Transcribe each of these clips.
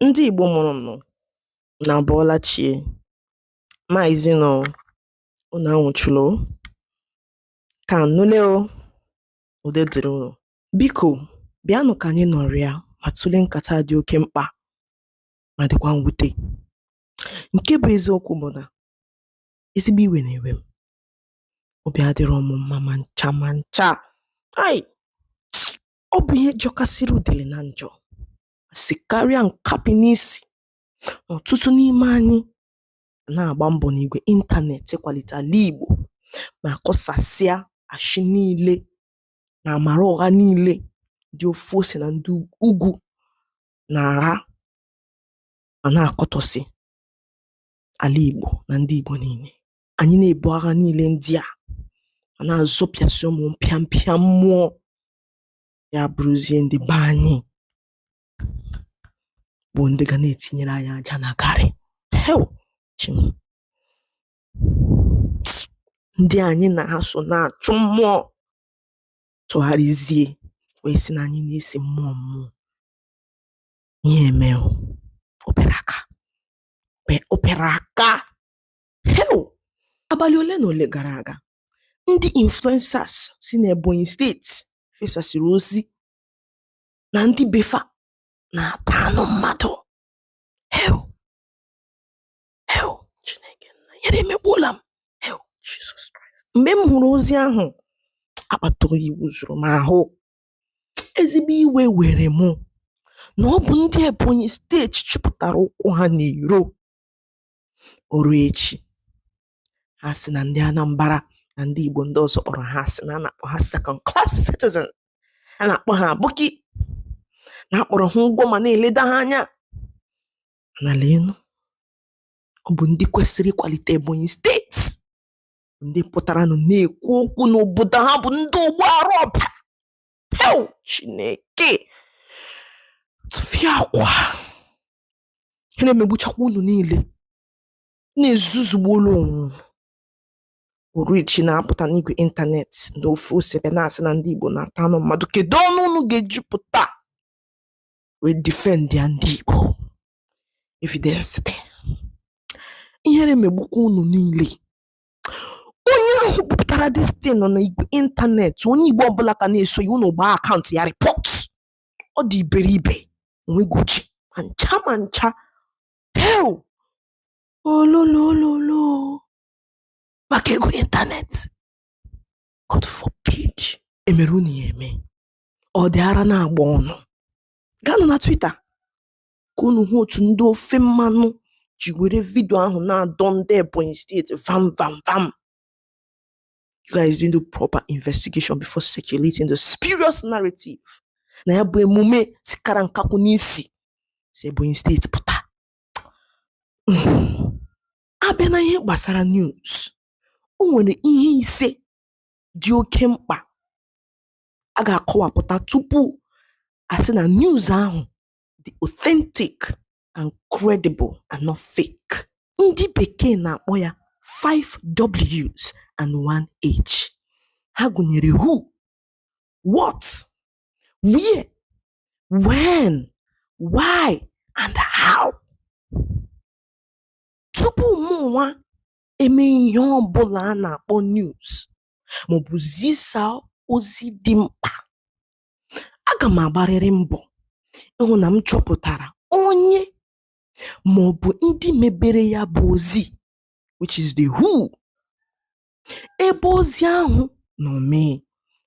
Ndị Igbo mụrụ mụ unu abọọla chi e maazị nụ unu anwụchụla o kaa nụ lee o udo dịrị unu biko bịanụ ka anyị nọrịa ma tụlee nkata dị oke mkpa ma dịkwa mwute nke bụ eziokwu bụ na ezigbo iwe na-ewe m obi adịrọ m mma ma ncha ma ncha ai ọ bụ ihe jọkasịrị udele na njọ si karịa nkapị n'isi ọtụtụ n'ime anyị na-agba mbọ n'igwe ịntanetị ịkwalite ala Igbo ma kọsasịa ashị niile na amara ụgha niile ndị ofe ose na ndị ugwu na-agha ma na-akọtọsị ala Igbo na ndị Igbo niile anyị na-ebu agha niile ndị a ma na-azọpịasị ụmụ mpịampịa mmụọ ya bụrụzie ndị be anyị bụ ndị ga na-etinyere anyị aja na garị hew Chi m ndị anyị na ha so na-achụ mmụọ tụgharịzie wee sị na anyị na-esi mmụọ mmụọ ihe emee o. opere aka Pe- opere aka Hew! Abalị ole na ole gara aga, ndị influencers si n'Ebonyi steeti fesasịrị ozi na ndị befa na-ata anụ mmadụ. Hew! Hew! Chineke nna, ihere emegbuola m. Hew! Jesus Christ. Mgbe m hụrụ ozi ahụ, akpata oyi wụzuru m ahụ. Ezigbo iwe were mụ na ọ bụ ndị Ebonyi steeti chịpụtara ụkwụ ha n'iro. o rue echi ha sị na ndị Anambra na ndị Igbo ndị ọzọ kpọrọ ha asị na a na-akpọ ha second class citizen a na-akpọ ha aboki na-akpọrọ ha ụgwụ ma na-eleda ha anya na leenụ ọ bụ ndị kwesịrị ịkwalite Ebonyi steeti ndị pụtaranụ na-ekwu okwu na obodo ha bụ ndị ogbu ara ọbara Chineke tụfịakwa ihere megbuchakwa unu niile na-ezuzugbuolu onwe o rue echi na-apụta n'igwe ịntanetị na ofe ose bịa na-asị na ndị Igbo na-ata anụ mmadụ kedu ọnụ unu ga-eji pụta wee defend ya ndị Igbo evidence dị ihere megbukwa unu niile onye ahụ kpọpụtara distin nọ na igwe ịntanetị onye Igbo ọbụla ka na-eso ya unu gbaa akaụntụ ya rịpọt ọ dị iberibe o nweghị uche ma ncha ma ncha hei ololololo maka ego ịntanetị God forbid emere unu ya eme ọ dị ara na-agba unu gaanụ na Twitter ka unu hụ otu ndị ofe mmanụ ji were vidio ahụ na-adọ ndị Ebonyi steeti vam vam vam you guys didn't do proper investigation before circulating the spurious narrative na ya bụ emume sikara nkakwụ n'isi si Ebonyi steeti pụta abịa na ihe gbasara news o nwere ihe ise dị oke mkpa a ga-akọwapụta tupu asị na news ahụ dị authentic and credible and not fake ndị bekee na-akpọ ya 5 W's and 1 H ha gụnyere who what where when why and how tupu mụ nwa eme ihe ọ bụla a na-akpọ news maọbụ zisaa ozi dị mkpa aga m agbarịrị mbọ ịhụ na m chọpụtara onye ma ọ bụ ndị mebere ya bụ ozi which is the who ebe ozi ahụ nọ mee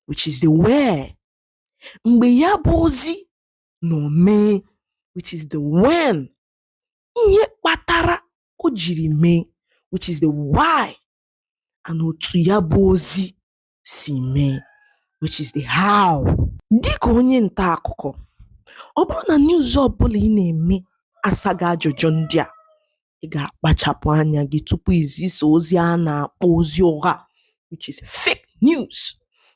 which is the where mgbe ya bụ ozi nọ mee which is the when ihe kpatara o jiri mee which is the why and otu ya bụ ozi si mee which is the how dịka onye nta akụkọ ọ bụrụ na news ọbụla ị na-eme asaghị ajụjụ ndị a ị ga-akpachapụ anya gị tupu izisa ozi a na-akpọ ozi ụgha which is fake news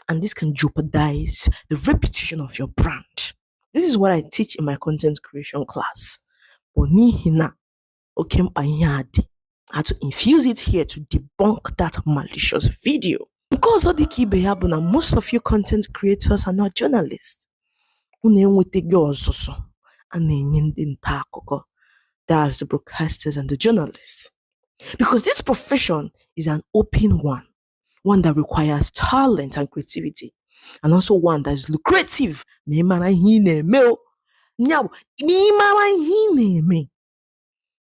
and this can jeopardize the reputation of your brand this is what I teach in my content creation class but n'ihi na oke mkpa ihe a dị had to infuse it here to debunk that malicious video. nke ọzọ dị ka ibe ya bụ na most of you content creators are not journalists unu enwetaghị ọzụzụ a na-enye ndị nta akụkọ that's the broadcasters and the journalists because this profession is an open one one that requires talent and creativity and also one that is lucrative ma ị mara ihe ị na-eme o ya bụ na ị mara ihe ị na-eme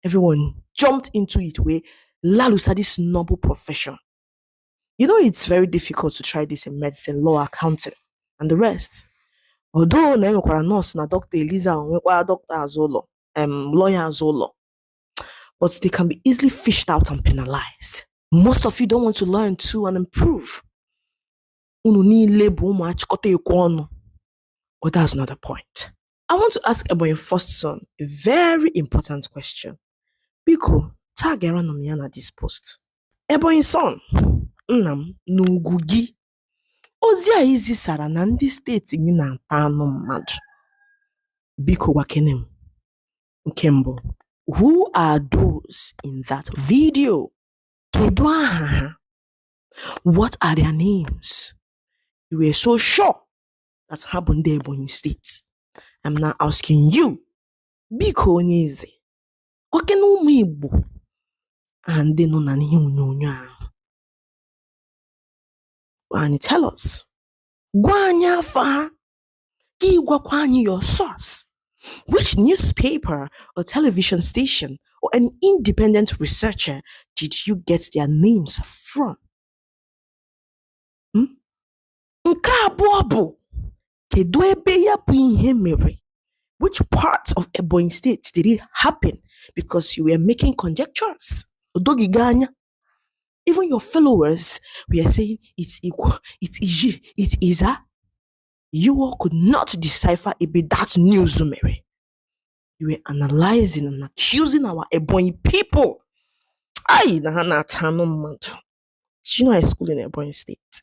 Everyone jumped into it wee lalusa, this noble profession. You know, it's very difficult to try this in medicine, law, accounting, and the rest. Although na enwekwara nurse na doctor Eliza nwekwa doctor azụ ụlọ um lawyer azụ ụlọ but they can be easily fished out and penalized. Most of you don't want to learn too and improve. Unu niile bụ ụmụ achịkọta ekwe ọnụ. But that's not the point. I want to ask Ebonyi first son a very important question. Biko, tagịranụ m ya na this post. Ebonyi son, nna m n'ugwu gị. Ozi a i zisara na ndị steeti gị na-ata anụ mmadụ. Biko gwakene m. Nke mbụ, who are those in that video? Kedu aha ha? What are their names? You were so sure that ha bụ ndị Ebonyi steeti I'm now asking you biko onye eze gwakene ụmụ Igbo aha ndị nọ na ihe onyonyo ahụ gwa anyị tell us gwa anyị afa ha ka ị gwakwa anyị your source which newspaper or television station or an independent researcher did you get their names from? Hmm? Nke abụọ bụ kedu ebe ya bụ ihe mere? Which part of Ebonyi State did it happen? Because you were making conjectures. O doghị gị anya. Even your followers were saying it's Ikwo, it's Izzi, it's Ezza. You all could not decipher ebe that news mere. You were analyzing and accusing our Ebonyi people. Hai, na ha na-ata anụ mmadụ. Did you know I school in Ebonyi State?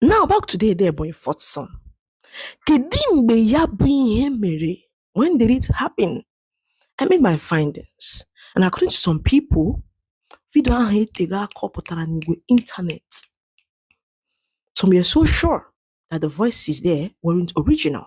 Now back to the Ebonyi first son. Kedu mgbe ya bụ ihe mere? When did it happen? I made my findings and according to some people, vidio ahụ etego aka ọ pụtara n'igwe internet. Some were so sure that the voices there weren't original.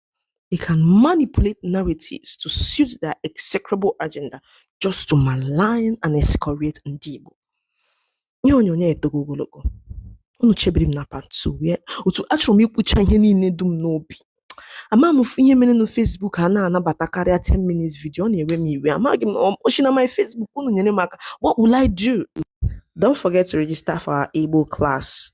They can manipulate narratives to suit their execrable agenda just to malign and excoriate Ndị Igbo. Ihe onyonyo etogo ogologo. Unu chebiri m na part 2 wee otu achọrọ m ikwucha ihe niile dị m n'obi. Amaghị m ihe mere na Facebook anaghị anabata karịa 10 minutes video ọ na-ewe m iwe. Amaghị m ọ- o shi na my Facebook unu nyere m aka. What will I do? Don't forget to register for our Igbo class.